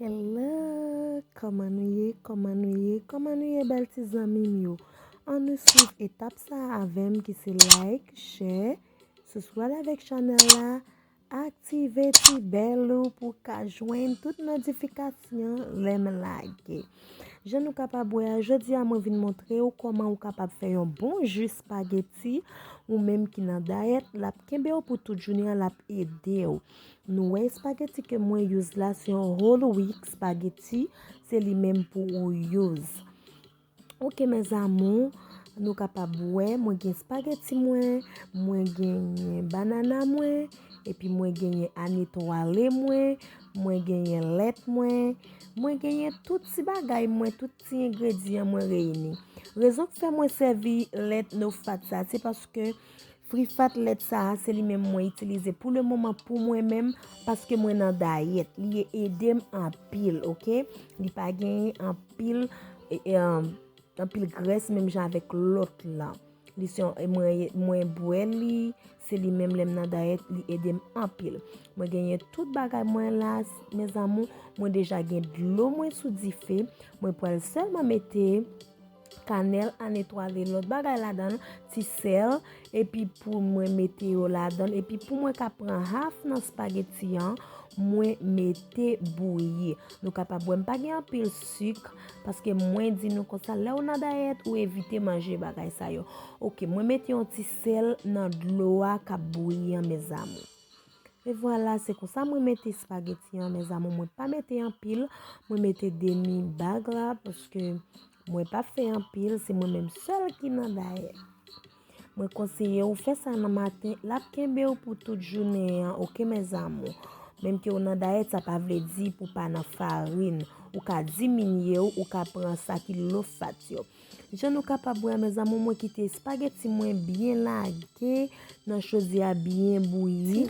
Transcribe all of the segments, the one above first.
Hello, kòman nou ye, kòman nou ye, kòman nou ye bèl ti zanmi m yo. An nou swiv etap sa avèm ki se like, share, souswèl avèk chanèl la, Aktive ti bèl ou pou w ka jwenn tout notifikasyon lè m lage. Jan nou kapab wè a, jodi a mwen vin montre ou kòman ou kapab fè yon bon jus spaghetti ou menm ki nan dayèt, l ap kenbe w pou tout jounen an, l ap ede w. Nou wè spaghetti ke mwen use la se yon whole wheat spaghetti, se li menm pou ou use. Ok mes amour nou kapab wè mwen gen spaghetti mwen mwen genyen banana mwen epi mwen genyen ani twale mwen mwen genyen lèt mwen mwen genyen tout ti bagay mwen tout ti engredyan mwen reyini rezon k fè mwen sèvi lèt no fat sa se paske Frifat lèt sa a se li menm mwen itilize pou le moman pou mwen menm paske mwen nan dayèt li edem anpil ok li pa genyen anpil anpil grès menm jan avèk lòt la li se mwen bwè li se li menm lèm nan dayèt li edem anpil mwen genyen tout bagay mwen la mèzamou mwen deja gen dlo mwen sou dife mwen pral sèlman mete kanèl an etwale lòt bagay ladan ti sèl epi pou mwen mete yo ladan epi pou mwen ka pran haf nan spageti an mwen mete bouyi nou kapab wèm pa gen anpil suk paske mwen di nou konsa lè ou nan dayèt ou evite manje bagay sa yo ok mwen mete yon ti sèl nan dlo a kap bouyi an mezanmi. E vwala se konsa mwen mete spageti an mes amour mwen pa mete anpil mwen mete demi bag la paske mwen pa fè anpil se mwen menm sèl ki nan dayè mwen konseye ou fè sa nan maten lap kenbe ou pou tout jounen an ok mes amour menm ke ou nan dayè sa pa vle di pou pa nan farin ou ka diminye ou ka pran sa ki lo fat yo. Jan nou kapab wè a mes amour mwen kite espagueti mwen byen lage nan chodye a byen bouyi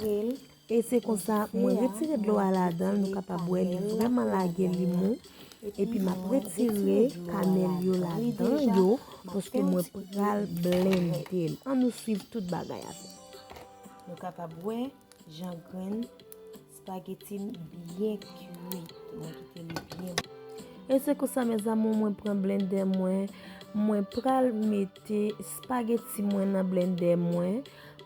e se konsa mwen retire dlo a ladan nou kapab wè li vreman lage li mou epi map retire kanel yo ladan yo paske mwen pral blende l an nou swiv tout bagay a nou kapab wè jan grenn Spaghetti m byen kuit. Mwen kite li byen. E se konsa mes amour mwen pran blender mwen. Mwen pral mete spaghetti mwen nan blender mwen.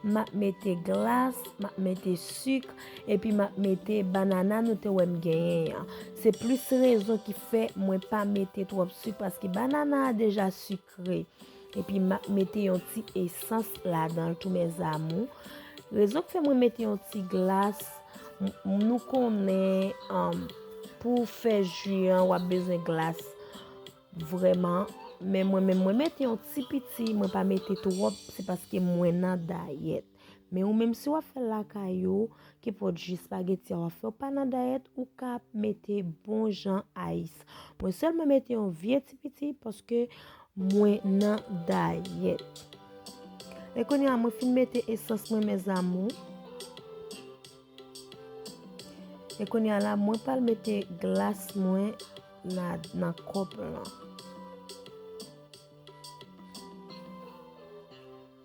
Map mete glas, map mete suk, epi map mete banana nou te wèm genyen an. Se plis rezon ki fè mwen pa mete twòp suk paske banana a deja suk. Kre. Epi map mete yon ti esans ladanl tou mes amours. Rezon ki fè mwen mete yon ti glas, nou konnen um, pou fè ju an wap bezwen glas vreman. Men mwen menm mwen mete yon ti piti, mwen pa mete twop, se paske mwen nan dayet. Men ou menm si wap fèl lakay ou, ki pot ji spaghetti a wap fè ou pa nan dayèt ou ka mete bon jan ice. Mwen sèlman mete yon vye ti piti paske mwen nan dayèt. E kounye a mwen fin mete esans mwen mes amour. E kounye a la mwen pral mete glas mwen nan kòp lan.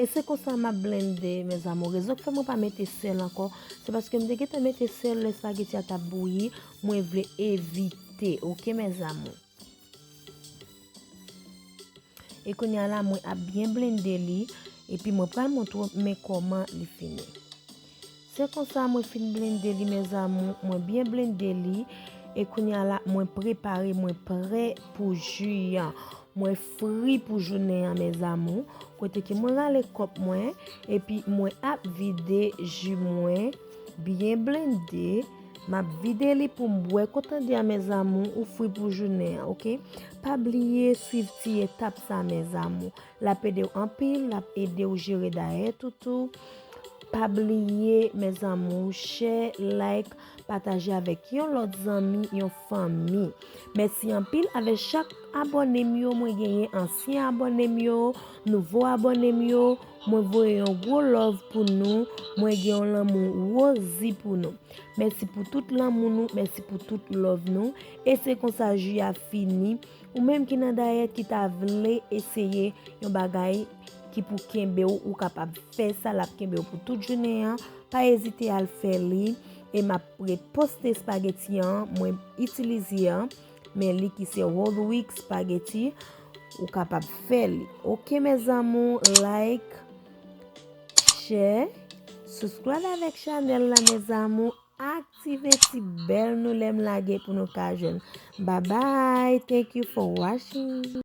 E se konsa map blende mes amours Donk fè mwen pa mete sèl ankò Se paske m te gentan mete sèl lè spaghetti a tap bouyi Mwen vle evite ok mes amours E kounya la mwen ap byen blende li Epi mwen pral montre w men kòman li fini Se konsa mwen fin blende li mes amour mwen byen blende li e kounya la mwen prepare mwen prè pou ju an mwen fri pou jounen an mes amour kote ke mwen rale kòp mwen epi mwen ap vide ju mwen byen blende map vide li poum bwè ou tande a mes amour ou fri pou jounen an ok pa bliye swiv ti etap sa mes amour. Lap edew anpil lap edew jere dayet ou tou pa bliye mes amour chè like pataje avek yon lot zanmi yon fanmi mèsi anpil avè chak abonem yo mwen genyen ansyen abonem yo nouvo abonem yo mwen voye yon gwo love pou nou mwen gen yon lanmou rozi pou nou mèsi pou tout lanmou nou mèsi pou tout love nou e se konsa ju a fini Ou menm ki nan dayèt ki ta vle eseye yon bagay ki pou kenbe w ou kapab fè sa l ap kenbe w pou tout jounen an pa ezite al fè li e m ap reposte espageti an mwen itilize an men li ki se whole wheat espageti ou kapab fè li ok mes amour like share subscribe avèk chanèl la mes amour. Aktive ti bell nou lem lage pou nou ka jwenn bye bye thank you for watching.